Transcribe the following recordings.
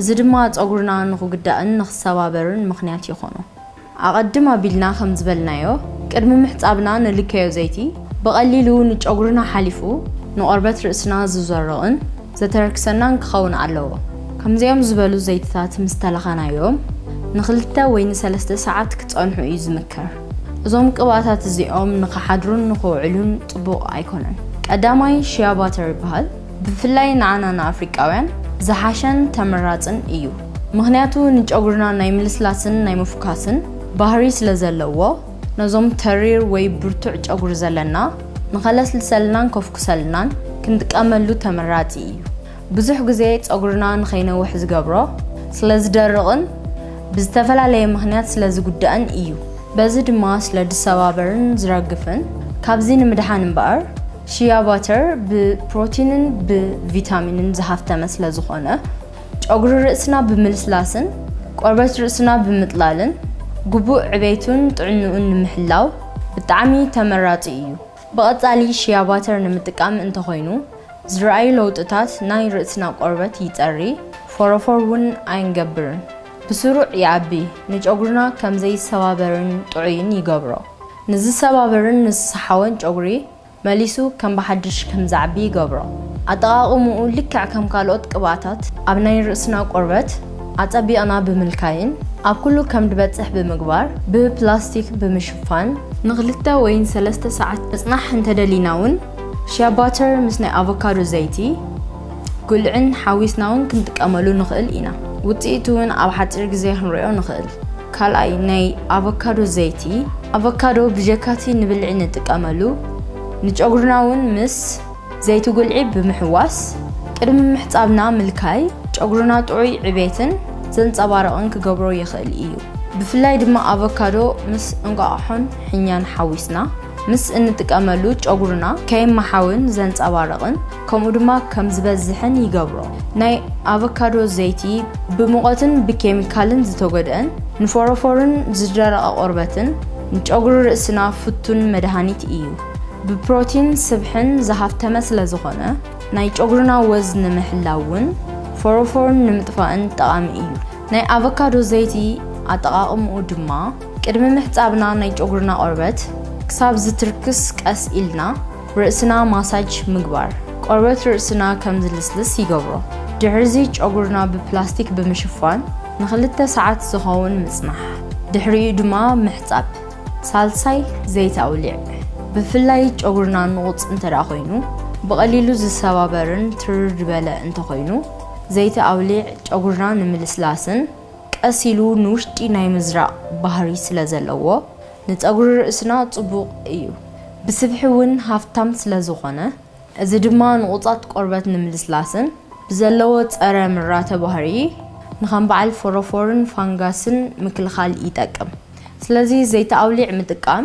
እዚ ድማ ጸጉርና ንኽጉዳእን ንኽሰባበርን ምኽንያት ይኾኖ። ኣቐድም ኣቢልና ከም ዝበልናዮ፣ ቅድሚ ምሕጻብና ንልከዮ ዘይቲ፣ ብቐሊሉ ንጨጉርና ሓሊፉ ንቆርበት ርእስና ዝዞርቕን ዘተረክሰናን ክኸውን ኣለዎ። ከምዚኦም ዝበሉ ዘይትታት ምስ ተለኸናዮም፣ ንኽልተ ወይ ንሰለስተ ሰዓት ክጸንሑ እዩ ዝምከር። እዞም ቅብኣታት እዚኦም ንኽሓድሩን ንኽውዕሉን ጽቡቕ ኣይኮነን። ቀዳማይ፣ ሺያ ባተር ይበሃል። ብፍላይ ንዓና ንኣፍሪቃውያን ዝሓሸን ተመራጽን እዩ ምኽንያቱ ንጨጉርና ናይ ምልስላስን ናይ ምፍኳስን ባህሪ ስለ ዘለዎ ነዞም ተሪር ወይ ብርቱዕ ጨጉሪ ዘለና ንኸለስልሰልናን ኮፍኩሰልናን ክንጥቀመሉ ተመራጺ እዩ ብዙሕ ግዜ ጸጉርና ንኸይነውሕ ዝገብሮ ስለ ዝደርቕን ብዝተፈላለየ ምኽንያት ስለ ዝጉዳእን እዩ በዚ ድማ ስለ ዝሰባበርን ዝረግፍን ካብዚ ንምድሓን እምበኣር ሺያ ባተር ብፕሮቲንን ብቪታሚንን ዝሃፍተመ ስለ ዝኾነ፣ ጨጉሪ ርእስና ብምልስላስን ቆርበት ርእስና ብምጥላልን ግቡእ ዕቤቱን ጥዕንኡን ንምሕላው ብጣዕሚ ተመራጺ እዩ። ብቐጻሊ ሺያ ባተር ንምጥቃም እንተኾይኑ ዝርኣዩ ለውጥታት ናይ ርእስና ቆርበት ይጸሪ፣ ፎሮፎር ውን ኣይንገብርን፣ ብስሩዕ ይኣቢ፣ ንጨጉርና ከም ዘይሰባበርን ጥዑይን ይገብሮ። ንዝሰባበርን ንዝሰሓወን ጨጉሪ መሊሱ ከም ብሓድሽ ከም ዝዓቢ ይገብሮ። ኣጠቓቕምኡ ልክዕ ከም ካልኦት ቅብኣታት ኣብ ናይ ርእስና ቆርበት ኣጸቢቕና ብምልካይን ኣብ ኩሉ ከም ድበጽሕ ብምግባር ብፕላስቲክ ብምሽፋን፣ ንክልተ ወይ ንሰለስተ ሰዓት ምጽናሕ እንተደሊናውን ሺያ ባተር ምስ ናይ ኣቮካዶ ዘይቲ፣ ጉልዕን ሓዊስና'ውን ክንጥቀመሉ ንኽእል ኢና። ውጽኢቱ'ውን ኣብ ሓጺር ግዜ ክንርእዮ ንኽእል። ካልኣይ፣ ናይ ኣቮካዶ ዘይቲ። ኣቮካዶ ብጀካ'ቲ ንብልዒ ንጥቀመሉ፣ ንጨጉርና'ውን ምስ ዘይቲ ጉልዒ ብምሕዋስ ቅድሚ ምሕጻብና ምልካይ፣ ጨጉርና ጥዑይ ዕቤትን ዘንጸባርቕን ክገብሮ ይኽእል እዩ። ብፍላይ ድማ ኣቮካዶ ምስ እንቋቑሖን ሕኛን ሓዊስና። ምስ እንጥቀመሉ ጨጉርና ከይመሓውን ዘንጸባርቕን ከምኡ ድማ ከም ዝበዝሕን ይገብሮ። ናይ ኣቨካዶ ዘይቲ ብሙቐትን ብኬሚካልን ዝተጎድኣን ንፎሮፎርን ዝደረቐ ቆርበትን ንጨጉሪ ርእስና ፍቱን መድሃኒት እዩ። ብፕሮቲን ስብሕን ዝሃፍተመ ስለዝኾነ ናይ ጨጉርና ወዝ ንምሕላውን ፎሮፎርን ንምጥፋእን ጠቓሚ እዩ። ናይ ኣቨካዶ ዘይቲ ኣጠቓቕምኡ ድማ። ቅድሚ ምሕጻብና ናይ ጨጉርና ቆርበት ክሳብ ዝትርክስ ቀስ ኢልና ርእስና ማሳጅ ምግባር ቆርበት ርእስና ከም ዝልስልስ ይገብሮ። ድሕርዚ ጨጉርና ብፕላስቲክ ብምሽፋን ንክልተ ሰዓት ዝኸውን ምጽናሕ ድሕሪኡ ድማ ምሕጻብ። ሳልሳይ ዘይቲ ኣውሊዕ ብፍላይ ጨጉርና ንቑጽ እንተድኣ ኮይኑ ብቐሊሉ ዝሰባበርን ትርር ድበለ እንተኾይኑ ዘይቲ ኣውሊዕ ጨጉርና ንምልስላስን ቀስ ኢሉ ንውሽጢ ናይ ምዝራእ ባህሪ ስለ ዘለዎ ንጸጉሪ ርእስና ጽቡቕ እዩ። ብስብሒ ውን ሃፍታም ስለ ዝኾነ እዚ ድማ ንቑጻት ቆርበት ንምልስላስን ብዘለዎ ጸረ ምራተ ባህሪ ንከም በዓል ፎሮፎርን ፋንጋስን ምክልኻል ይጠቅም። ስለዚ ዘይቲ ኣውሊዕ ምጥቃም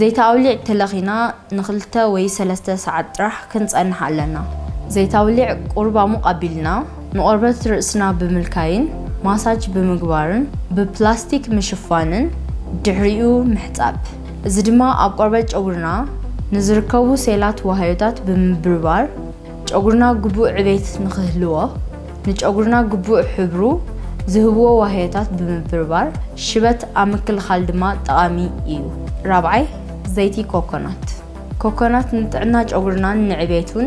ዘይተ ኣውሊዕ ተለኺና ንክልተ ወይ ሰለስተ ሰዓት ጥራሕ ክንጸንሕ ኣለና። ዘይተ ኣውሊዕ ቁሩብ ኣሙቕ ኣቢልና ንቆርበት ርእስና ብምልካይን ማሳጅ ብምግባርን ብፕላስቲክ ምሽፋንን ድሕሪኡ ምሕጻብ። እዚ ድማ ኣብ ቆርበት ጨጉርና ንዝርከቡ ሴላት ዋህዮታት ብምብርባር፣ ጨጉርና ግቡእ ዕቤት ንክህልዎ፣ ንጨጉርና ግቡእ ሕብሩ ዝህብዎ ዋህዮታት ብምብርባር ሽበት ኣብ ምክልኻል ድማ ጠቓሚ እዩ። ራብዓይ፣ ዘይቲ ኮኮናት። ኮኮናት ንጥዕና ጨጉርናን ንዕቤቱን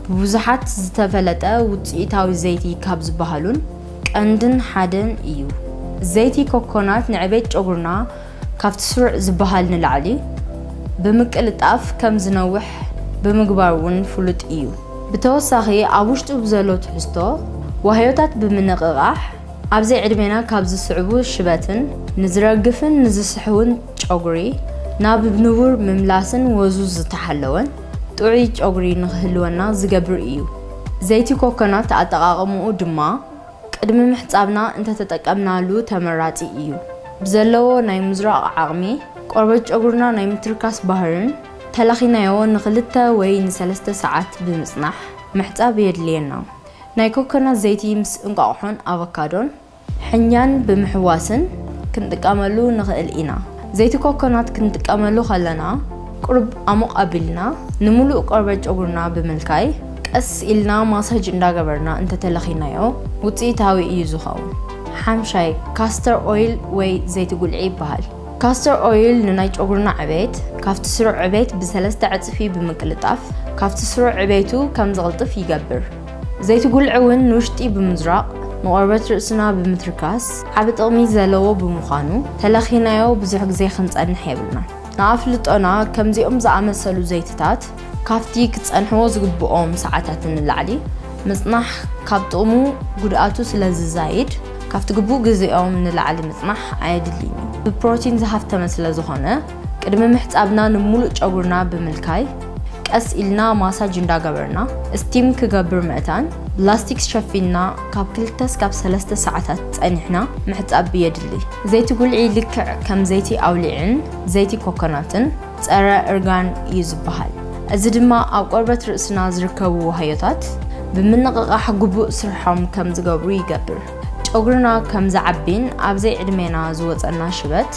ብብዙሓት ዝተፈለጠ ውፅኢታዊ ዘይቲ ካብ ዝበሃሉን ቀንድን ሓደን እዩ። ዘይቲ ኮኮናት ንዕቤት ጨጉርና ካብቲ ስሩዕ ዝበሃል ንላዕሊ ብምቅልጣፍ ከም ዝነውሕ ብምግባር እውን ፍሉጥ እዩ። ብተወሳኺ ኣብ ውሽጡ ብዘሎ ትሕዝቶ ዋህዮታት ብምንቕቓሕ ኣብ ዘይዕድሜና ካብ ዝስዕቡ ሽበትን ንዝረግፍን ንዝስሕውን ጨጉሪ ናብ ንቡር ምምላስን ወዙ ዝተሓለወን ጥዑይ ጨጉሪ ንኽህልወና ዝገብር እዩ። ዘይቲ ኮኮናት ኣጠቓቕምኡ ድማ። ቅድሚ ምሕጻብና እንተተጠቀምናሉ ተመራጺ እዩ። ብዘለዎ ናይ ምዙራቕ ዓቕሚ፣ ቆርበት ጨጉርና ናይ ምትርካስ ባህርን ተላኺናዮ ንክልተ ወይ ንሰለስተ ሰዓት ብምጽናሕ ምሕጻብ የድልየና። ናይ ኮኮናት ዘይቲ ምስ እንቋቑሖን ኣቮካዶን፣ ሕኛን ብምሕዋስን ክንጥቀመሉ ንኽእል ኢና። ዘይቲ ኮኮናት ክንጥቀመሉ ከለና ቁሩብ ኣሞቕ ኣቢልና ንምሉእ ቆርበት ጨጉርና ብምልካይ ቀስ ኢልና ማሳጅ እንዳገበርና እንተተለኺናዮ ውጽኢታዊ እዩ ዝኸውን። ሓምሻይ ካስተር ኦይል ወይ ዘይቲ ጉልዒ ይበሃል። ካስተር ኦይል ንናይ ጨጉርና ዕቤት ካብቲ ስሩዕ ዕቤት ብሰለስተ ዕጽፊ ብምቅልጣፍ ካብቲ ስሩዕ ዕቤቱ ከም ዝቕልጥፍ ይገብር። ዘይቲ ጉልዒ እውን ንውሽጢ ብምዝራቕ ንቆርበት ርእስና ብምትርካስ ዓቢ ጥቕሚ ዘለዎ ብምዃኑ ተለኺናዮ ብዙሕ ግዜ ክንጸንሕ የብልናን። ንኣፍልጦና ከምዚኦም ዝኣመሰሉ ዘይቲታት ካብቲ ክጸንሕዎ ዝግብኦም ሰዓታት ንላዕሊ ምጽናሕ ካብ ጥቕሙ ጉድኣቱ ስለ ዝዛይድ ካብቲ ግቡእ ግዜኦም ንላዕሊ ምጽናሕ ኣየድልይን እዩ። ብፕሮቲን ዝሃፍተመ ስለ ዝኾነ፣ ቅድሚ ምሕጻብና ንሙሉእ ጨጉርና ብምልካይ ቀስ ኢልና ማሳጅ እንዳገበርና እስቲም ክገብር ምእታን ብላስቲክስ ሸፊንና ካብ ክልተ ስካብ ሰለስተ ሰዓታት ጸኒሕና ምሕጻብ የድሊ። ዘይቲ ጉልዒ ልክዕ ከም ዘይቲ ኣውሊዕን ዘይቲ ኮኮናትን ጸረ እርጋን እዩ ዝበሃል። እዚ ድማ ኣብ ቆርበት ርእስና ዝርከቡ ዋህዮታት ብምንቕቓሕ ግቡእ ስርሖም ከም ዝገብሩ ይገብር። ጨጉርና ከም ዝዓቢን ኣብ ዘይዕድሜና ዝወፀና ሽበት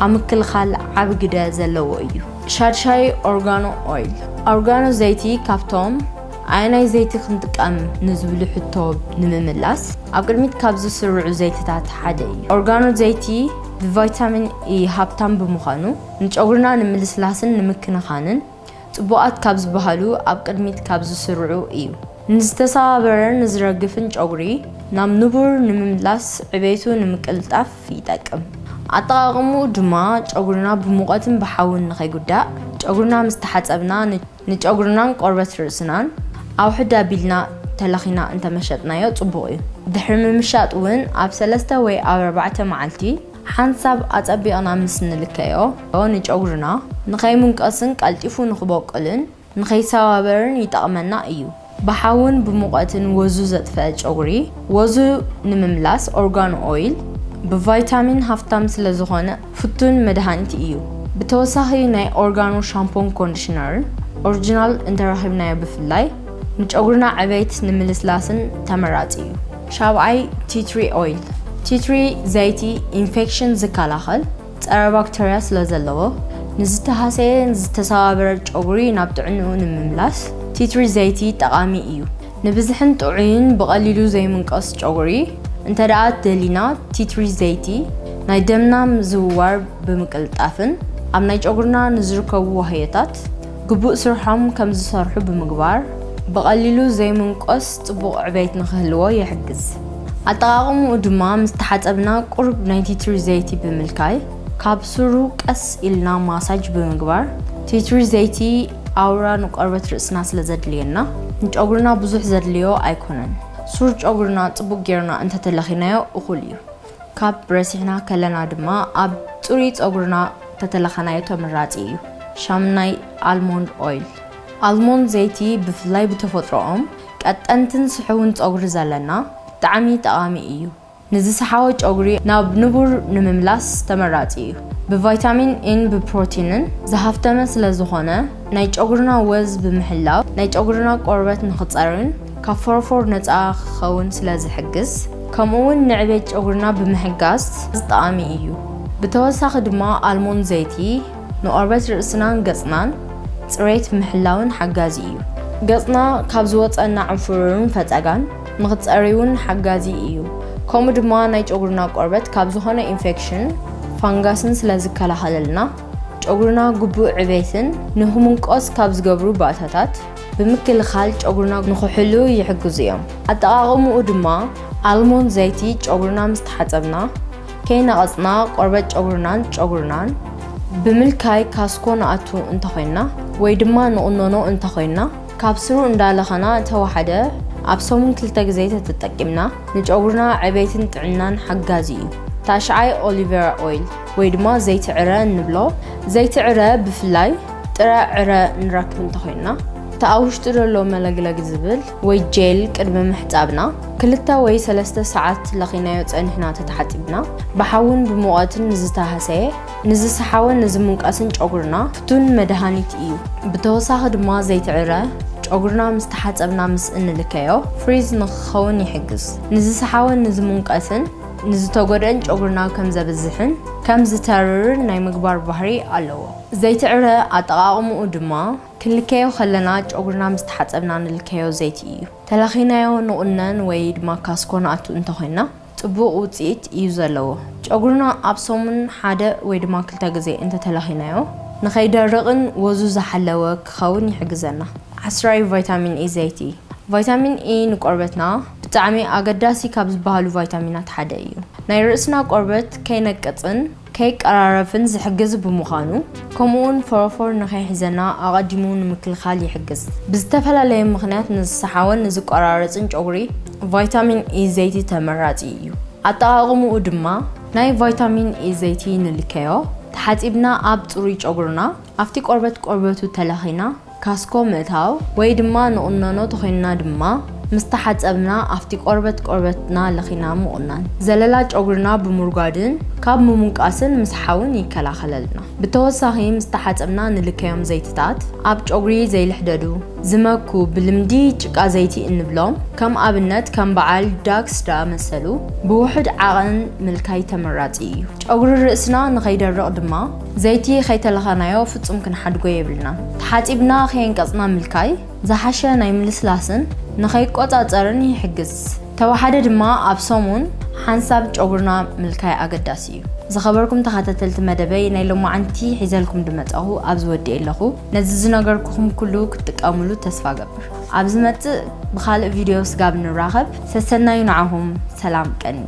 ኣብ ምክልኻል ዓቢ ግደ ዘለዎ እዩ። ሻድሻይ ኦርጋኖ ኦይል፣ ኦርጋኖ ዘይቲ ካብቶም ኣየናይ ዘይቲ ክንጥቀም ንዝብሉ ሕቶ ንምምላስ ኣብ ቅድሚት ካብ ዝስርዑ ዘይትታት ሓደ እዩ። ኦርጋኖ ዘይቲ ብቫይታሚን ኢ ሃብታም ብምዃኑ ንጨጉርና ንምልስላስን ንምክንኻንን ጽቡቓት ካብ ዝበሃሉ ኣብ ቅድሚት ካብ ዝስርዑ እዩ። ንዝተሰባበረን ንዝረግፍን ጨጉሪ ናብ ንቡር ንምምላስ ዕቤቱ ንምቅልጣፍ ይጠቅም። ኣጠቓቕምኡ ድማ ጨጉርና ብሙቐትን ብሓውን ንኸይጉዳእ ጨጉርና ምስ ተሓጸብና ንጨጉርናን ቆርበት ርእስናን ኣውሕድ ኣቢልና ተለኺና እንተመሸጥናዮ ጽቡቕ እዩ። ድሕሪ ምምሻጥ እውን ኣብ ሰለስተ ወይ ኣብ ኣርባዕተ መዓልቲ ሓንሳብ ኣጸቢቕና ምስ ንልከዮ ንጨጉርና ንኸይምንቀስን ቀልጢፉ ንኽቦቅልን ንኸይሰባበርን ይጠቕመና እዩ። ብሓውን ብሙቐትን ወዙ ዘጥፈኣ ጨጉሪ ወዙ ንምምላስ ኦርጋኖ ኦይል ብቫይታሚን ሃፍታም ስለዝኾነ ፍቱን መድሃኒት እዩ። ብተወሳኺ ናይ ኦርጋኖ ሻምፖን ኮንዲሽነርን ኦርጅናል እንተረኺብናዮ ብፍላይ ንጨጉርና ዕቤት ንምልስላስን ተመራጺ እዩ። ሻብዓይ፣ ቲ ትሪ ኦይል፣ ቲ ትሪ ዘይቲ፣ ኢንፌክሽን ዝከላኸል ፀረ ባክተርያ ስለ ዘለዎ ንዝተሃሰየን ዝተሰባበረን ጨጉሪ ናብ ጥዕንኡ ንምምላስ ቲ ትሪ ዘይቲ ጠቓሚ እዩ። ንብዝሕን ጥዑይን ብቐሊሉ ዘይምንቀስ ጨጉሪ እንተድኣ ደሊና ቲ ትሪ ዘይቲ ናይ ደምና ምዝውዋር ብምቅልጣፍን ኣብ ናይ ጨጉርና ንዝርከቡ ዋህዮታት ግቡእ ስርሖም ከም ዝሰርሑ ብምግባር ብቐሊሉ ዘይምንቆስ ጽቡቕ ዕቤት ንኽህልዎ ይሕግዝ። ኣጠቓቕምኡ ድማ ምስ ተሓጸብና ቁሩብ ናይ ቲትሪ ዘይቲ ብምልካይ ካብ ሱሩ ቀስ ኢልና ማሳጅ ብምግባር፣ ቲትሪ ዘይቲ ኣውራ ንቆርበት ርእስና ስለ ዘድልየና ንጨጉርና ብዙሕ ዘድልዮ ኣይኮነን። ሱር ጨጉርና ጽቡቕ ጌርና እንተተለኺናዮ እኹል እዩ። ካብ ረሲዕና ከለና ድማ ኣብ ጽሩይ ጸጉርና ተተለኸናዮ ተመራጺ እዩ። ሻምናይ ኣልሞንድ ኦይል፣ ኣልሞንድ ዘይቲ ብፍላይ ብተፈጥሮኦም ቀጠንትን ስሑውን ጸጉሪ ዘለና ብጣዕሚ ጠቓሚ እዩ። ንዝሰሓወ ጨጉሪ ናብ ንቡር ንምምላስ ተመራጺ እዩ። ብቫይታሚን ኢን ብፕሮቲንን ዝሃፍተመ ስለዝኾነ ናይ ጨጉርና ወዝ ብምሕላው ናይ ጨጉርና ቆርበት ንኽጸርን ካብ ፎሮፎር ነጻ ክኸውን ስለ ዝሕግዝ ከምኡ ውን ንዕቤት ጨጉርና ብምሕጋዝ ጠቓሚ እዩ። ብተወሳኺ ድማ ኣልሞንድ ዘይቲ ንቆርበት ርእስናን ገጽናን ጽሬት ምሕላውን ሓጋዚ እዩ። ገጽና ካብ ዝወጸና ዕንፉሩርን ፈጸጋን ንክትጸርይ ውን ሓጋዚ እዩ። ከምኡ ድማ ናይ ጨጉርና ቆርበት ካብ ዝኾነ ኢንፌክሽን ፋንጋስን ስለ ዝከላኸለልና ጨጉርና ግቡእ ዕቤትን ንክምንቆስ ካብ ዝገብሩ ባእታታት፣ ብምክልኻል ጨጉርና ንኽሕሉ ይሕግዙ እዮም። ኣጠቓቕምኡ ድማ ኣልሞንድ ዘይቲ ጨጉርና ምስ ተሓፀብና ከይነቐፅና ቆርበት ጨጉርናን ጨጉርናን ብምልካይ ካስኮ ንኣቱ እንተኾይንና ወይ ድማ ንቑኖኖ እንተኾይንና ካብ ስሩ እንዳለኸና እንተወሓደ ኣብ ሰሙን ክልተ ግዜ ተተጠቂምና ንጨጉርና ዕቤትን ጥዕናን ሓጋዚ እዩ። ታሽዓይ ኦሊቬራ ኦይል ወይ ድማ ዘይቲ ዕረ እንብሎ ዘይቲ ዕረ ብፍላይ ጥረ ዕረ ንረክብ እንተኾይንና እቲ ኣብ ውሽጡ ዘሎ መለግለግ ዝብል ወይ ጄል ቅድሚ ምሕፃብና ክልተ ወይ ሰለስተ ሰዓት ለኺናዮ ፀኒሕና ተተሓፂብና ብሓውን ብሙቐትን ንዝተሃሰየ ንዝሰሓወ ንዝምንቀስን ጨጉርና ፍቱን መድሃኒት እዩ። ብተወሳኺ ድማ ዘይቲ ዕረ ጨጉርና ምስ ተሓፀብና ምስ እንልከዮ ፍሪዝ ንክኸውን ይሕግዝ። ንዝሰሓወን ንዝምንቀስን ንዝተጎድእን ጨጉርና ከም ዘብዝሕን ከም ዝተርርን ናይ ምግባር ባህሪ ኣለዎ። ዘይትዕረ ኣጠቓቕምኡ ድማ ክንልከዮ ከለና ጨጉርና ምስ ተሓጸብና ንልከዮ ዘይቲ እዩ። ተላኺናዮ ንቑነን ወይ ድማ ካስኮ ንኣቱ እንተኾይንና ጽቡቕ ውጽኢት እዩ ዘለዎ። ጨጉርና ኣብ ሰሙን ሓደ ወይ ድማ ክልተ ግዜ እንተተለኺናዮ ንኸይደርቕን ወዙ ዝሓለወ ክኸውን ይሕግዘና። ዓስራይ ቫይታሚን ኢ ዘይቲ ቫይታሚን ኢ ንቆርበትና፣ ብጣዕሚ ኣገዳሲ ካብ ዝበሃሉ ቫይታሚናት ሓደ እዩ። ናይ ርእስና ቆርበት ከይነቅጽን ከይቀራረፍን ዝሕግዝ ብምዃኑ ከምኡውን ፎሮፎር ንከይሕዘና ኣቐዲሙ ንምክልኻል ይሕግዝ። ብዝተፈላለየ ምኽንያት ንዝሰሓወን ንዝቆራረጽን ጨጉሪ ቫይታሚን ኢ ዘይቲ ተመራጺ እዩ። ኣጠቓቕምኡ ድማ ናይ ቫይታሚን ኢ ዘይቲ ንልከዮ፣ ተሓጺብና ኣብ ጽሩይ ጨጉርና ኣብቲ ቆርበት ቆርበቱ ተለኺና ካስኮ ምእታው ወይ ድማ ንቑነኖ ተኾይንና ድማ ምስ ተሓጸብና ኣፍቲ ቆርበት ቆርበትና ለኺና ምቑናን ዘለላ ጨጉርና ብምርጓድን ካብ ምሙንቃስን ምስሓውን ይከላኸለልና። ብተወሳኺ ምስ ተሓጸብና ንልከዮም ዘይትታት ኣብ ጨጉሪ ዘይልሕደዱ፣ ዝመኩ፣ ብልምዲ ጭቃ ዘይቲ እንብሎም ከም ኣብነት ከም በዓል ዳክስ ድኣመሰሉ ብውሑድ ዓቐን ምልካይ ተመራጺ እዩ። ጨጉሪ ርእስና ንኸይደርቕ ድማ ዘይቲ ከይተለኸናዮ ፍጹም ክንሓድጎ የብልናን። ተሓጺብና ከየንቀጽና ምልካይ ዝሓሸ ናይ ምልስላስን ንኸይቆጻጸርን ይሕግዝ። ተወሓደ ድማ ኣብ ሰሙን ሓንሳብ ጨጉርና ምልካይ ኣገዳሲ እዩ። ዝኸበርኩም ተኸታተልቲ መደበይ ናይ ሎማዓንቲ ሒዘልኩም ድመጻኹ ኣብዚ ወዲኤ ኣለኹ። ነዚ ዝነገርኩኹም ኩሉ ክትጥቀምሉ ተስፋ እገብር። ኣብ ዝመጽእ ብኻልእ ቪድዮ ስጋብ ንራኸብ ሰሰናዩ ንዓኹም ሰላም ቀንዩ።